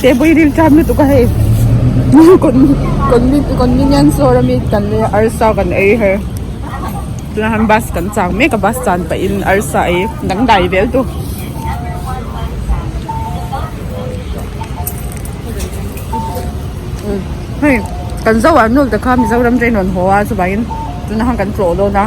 te pawh i ril tlat lutuk a hei convenience store ami kan nei a arsa kan ei a hei tunah hian bus kan chak mek a bus chan pahin arsa ei dangdai vel tu hei kan zoah nawlta kha mizoram teh a rawn haw a chuvangin tunah hian kan tlawh dawn a.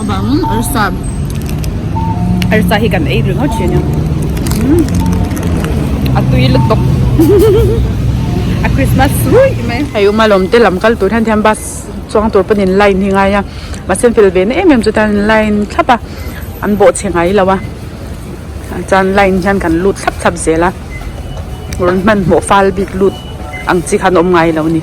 avang arsa arsa hi kan ei rilh ngawt thin a nia umm a tui lutuk a christmas ruih mai hei uma lawm te lam kal tur hian thiam bus chuang tur pawn in line hi ngai a mahse fel ve na em em chuan in line thlap a an bawh chhe ngai lo a chuan line hian kan lut thlap thlap zel a rawn hmanhmawh fal bik lut ang chi khan awm ngai lo a ni.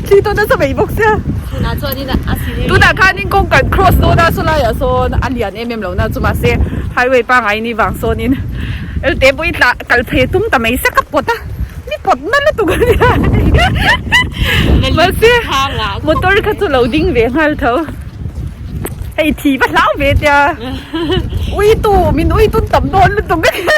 Thli tawna chu vei bawk sia. Tunah chuan in a si reng reng. Tunah khan in kawng kan cross dawn a saw lai ah sawn a lian em em lo na chu mah se highway pangai in i vang sawn in elte pawh i tla kal phei a tum ta mai sak a pawt a ni pawt na lutuk a nia ni mah se motor kha chu lo ding ve nghal tho hei thi va hlau ve tia ui tu min ui tun tam dawn lutuk a nia.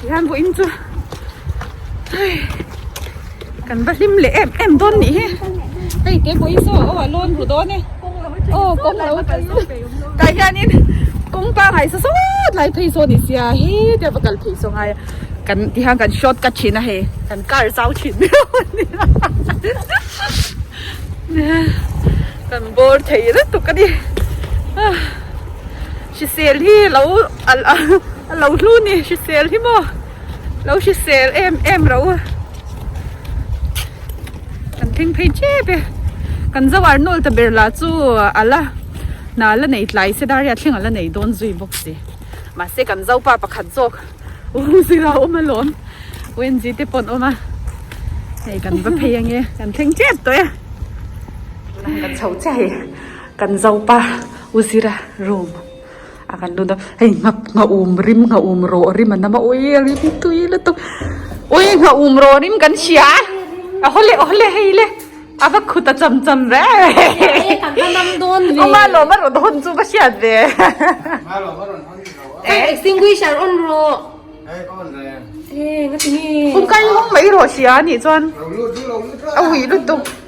Tihian vawiin chu hei kan va hlim leh em em dawn nih hi hei te pawhin saw aw a lawn ru dawn e aw kawng lo kal zawk thei awm lo tah hianin kawng pangngai sa sawt lai phei sawn i sia he te va kal phei saw ngai a kan tihian kan short cut thin a hei kan car zau thin miau a ni a kan bore thei lutuk a ni. Hrisel hi lo a lo hlu ni hrisel hi maw lo hrisel em em ro a kan thleng phei chep e kan zo ar nawl ta ber lah chu a la hna la nei tlai se dar hi a thleng a la nei dawn zui bawk si mahse kan zo pa pakhat zawk u zira awm a lawm wendy te pawh an awm a hei kan va phei ange kan thleng chep tawh e kan chho che hei. Kan zopa u Zira room ah kan lut a, hei nghak nghahum rim nghahum rawh rim an awm a, ui a rim tui lutuk, ui nghahum rawh rim kan hria a, aw le aw le hei le a va khut a cham cham reh awma lo va rawn hawn chu va hriat ve extinguisher on rawh kum kai hung mai rawh hria a nih chuan a ui lutuk.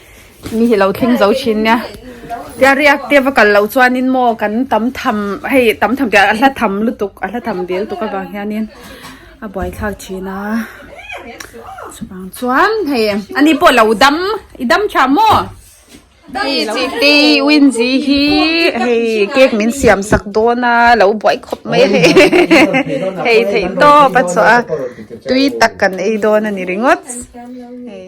mi hi lo tling zo thin nia tia riak te va kal lo chuan in maw kan tam tham hei tam tham tia a hla tham lutuk a hla tham del tuk avang hian in a buai thlak thin a chuvang chuan hei ani pawh lo dam i dam tha maw hei lo ti win zi hi hei cake min siam sak dawn a lo buai khawp mai hei hei theih tawp a chawh a tui tak kan ei dawn a ni ringawt hei.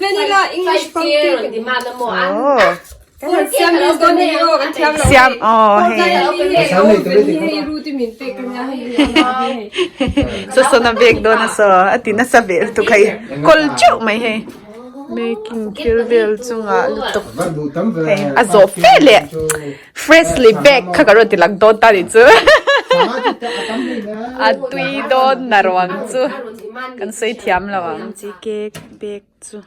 Vanilla English pumpkin. Oh. Siamese dawn hi erawh kan thiam lo. Siam oh hei. Hei ru te min pek kan nia hei. Sasona bag dawn a saw a ti nasa ve lutuk a ih. Kawl teuh mai hei. Making thil vel chunga lutuk. Hei a zawh fe leh freshly baked kha ka rawn ti lang dawn ta nih chu. A tui dawn na ruang chu kan sawi thiam lo ang. Chi cake. bag chu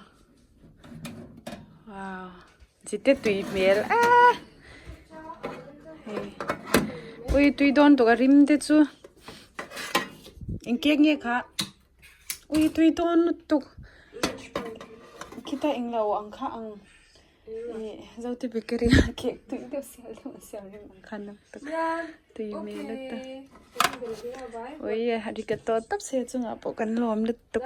wow chi te tui hmel a hei ui tui dawn tawka rim te chu engkiak nge kha ui tui dawn lutuk tuk khita englo ang kha ang zote bakery a cake tui deuh sial deuh a siam reng ang kha nak tak tui hmel a ta ui arigato tap se chungah pawh kan lawm lutuk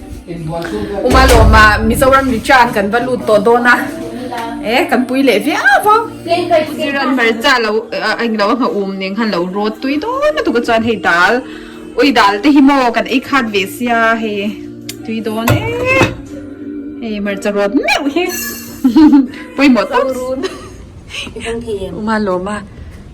Uma lawma Mizoram Richa an kan va lut tawh dawn a. Eh, kan pui leh viau vo. Ziran hmarcha lo, ah, englo a nghah um ning han lo rawt tui dawn lutuk a chuan hei dal, ui dal te hi maw kan ei khat ve sia hei tui dawn e. Hei hmarcha rawt meuh hi. Pawimawh tawp. Uma lawma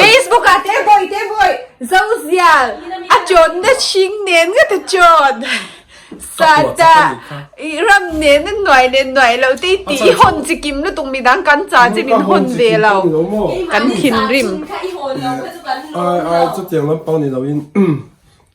Facebook ah te boy te boy zozial a chawn na hring nen nga ta chawn sata ram nen na nuai nen nuai lo te ti i hon chi kim lutuk mi dang kan cha che min hon ve lo kan thin rim ai ai chu tiang lam pang ni lo in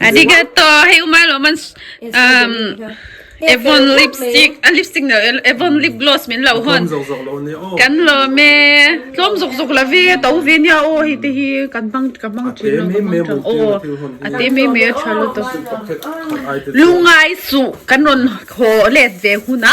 Arigato, hei uma lo man um Avon lipstick, a lipstick no Avon lip gloss min lo hon. Kan lo me, tlom zok zok la ve, to ve nia o hei te hi kan bang kan bang thin lo kan bang thin o. Ate me me a tha lo to. Lungai su kan ron ho let ve huna.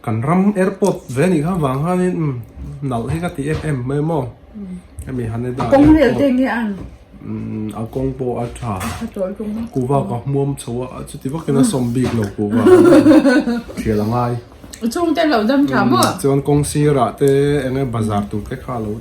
Kan ram airport ve nih kha vang han in nalh hi ka ti em em mai maw? Hemi han e da. Kawng leh te nge an? A kawng pawh a tha. Kuva ka hmuam chho a, a chuti vakin a sawm bik lo kuva. Thial a ngai. A chhungte a lo dam tha maw? Chuan kawng sirah te eng nge bazar tur te kha a lo.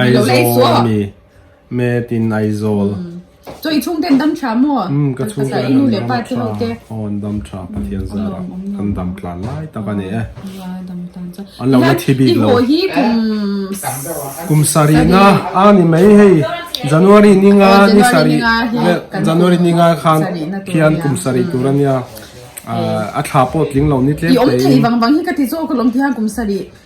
Aizawl a ni met in Aizawl Chaw i chhungte an dam tha maw? Umm ka chhungte ah an dam tha aw an dam tha Pathian zat ah kan dam tlan lai tak a ni e an lo la thi bik lo kum sarih na a ni mai hei January ni nga ni sarih January ni nga khan khian kum sarih tur a nia a thla pawh tling lo ni tlem te in.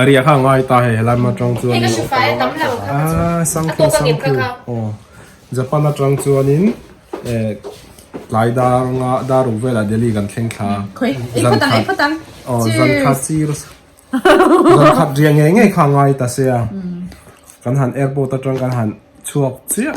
Ari a kha ngai ta he helai ma tang chuan a sang khu sang khu oh Japan atang chuan in eh tlai dar nga dar uk vela Delhi kan thleng thla zan khat oh zan khat sir zan khat ria ngei ngei kha ngai ta se a kan han airport atang kan han chhuak chiah.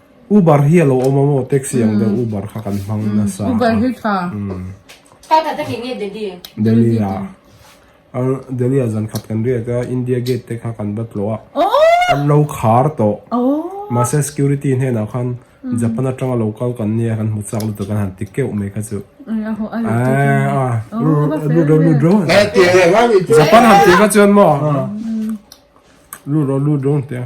Uber hi a lo awm a maw? Taxi ang deuh Uber kha kan hmang nasa a. Uber hi tha. Kal khat a hnih nge Delhi? Delhi a. Delhi ah zan khat kan riat a, India Gate te kha kan va tlawh a. An lo khar tawh. Mahse security hnenah khan Japan atanga lo kal kan nia kan hmu chak lutuk kan han ti keuh mai kha chu. Lut rawh lut rawh. Japan han ti kha chuan maw? Lut rawh lut rawh an ti a.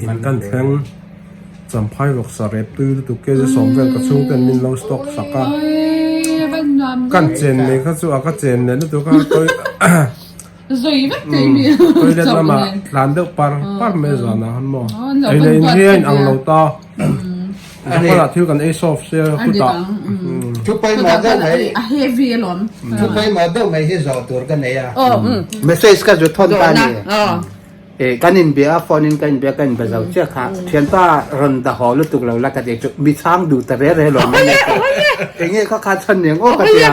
In kan thleng Champhai ruaksa rep tui lutuk K Z sawm vel ka chhungte an min lo stalk sak a, kan chen mai kha chu a ka chen leh lutuk a toilet lamah tlan deuh par par mai a zan ah han maw, eilehin hi a inang lo ta. a ni a thil kan ei solve se putah chu pawimawh deuh mai a heavy a lawm chu pawimawh deuh mai hi zawh tur ka nei a message ka zut thawn ta a ni e kan inbia a phone in ka inbia ka inbe zo chiah kha thianpa rawn da haw lutuk lo la ka tih chu mi chhang duh ta rel rel awm mai enge kha khan chhan niang awk a tia.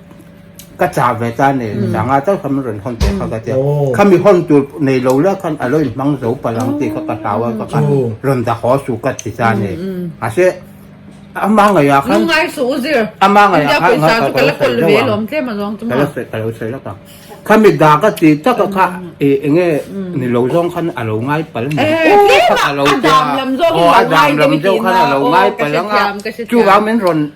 Ka chah ve ta nen ni dang a, chauhlam in rawn hawn teh kha ka tia. Kha mi hawn tur nei lo leh khan a lo in hmang zo palh ang tih kha ka hlau a, ka kha rawn dah haw su ka ti ta nen. Mahse a hmangaih ah khan, a hmangaih ah khan ka lo sawi deuh ang, ka la sawi, ka lo sawi lak ang. Kha mi dah ka ti tak ah kha eh eng nge ni lo zawng khan a lo ngai pal nen. Tlema a dam lam zawng in a lo ngai tlem hian a, aw ka hre thiam, ka hre thiam.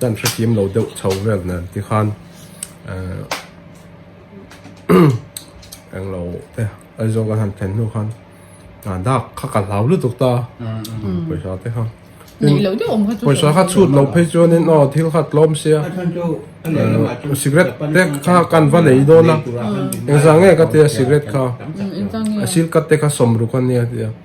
Kan hrethiam lo deuh chho vel nan ti khan eng lo te aizawl kan han thlen hnu khan a dak kha ka hlau lutuk ta pawisa te kha nei lo deuh awm kha chu pawisa kha chhut lo phei chuanin aw thil kha tlawm sia cigarette te kha kan va nei dawn a engzah nge ka tia cigarette kha a silkat te kha sawm ruk a nia tia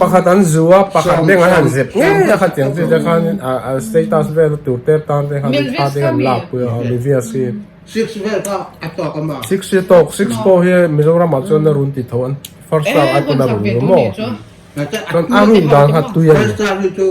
Pakhat an zu a, pakhat deng an han zep ngei a kha tiang chi te khan a status vel a tur ter tan te khan in thla ding an lak pui a, a mi vias hi Six vel kha a tawk a mah. Six hi a tawk, six pawh hi Mizoram ah chuan a run ti tho an first star a tun a run rum maw, chuan a run dan kha tui a ni.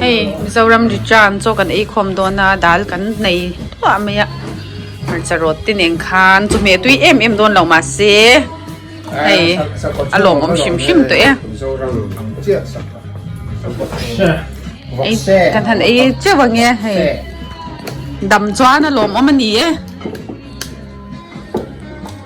Hei Mizoram ri tan chaw kan eikhawm dawn a dal kan nei thuah mai a hmarcha rawt te nen khan chumi a tui em em dawn lo mahse hei a lawmawm hrim hrim tawh e ei kan han ei teuh ang e hei dam chuan a lawmawm a ni e.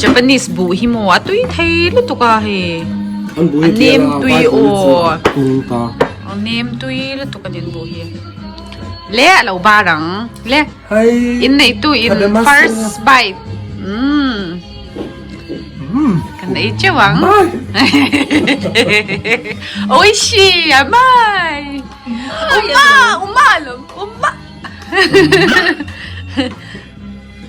Japanese buh hi maw a tui thei lutuk a hei a nem tui aw a nem tui lutuk a nen buh hi le a lo bar ang le in nei tu in first bite um kan ei cheu ang oi shi a mai uma uma lo uma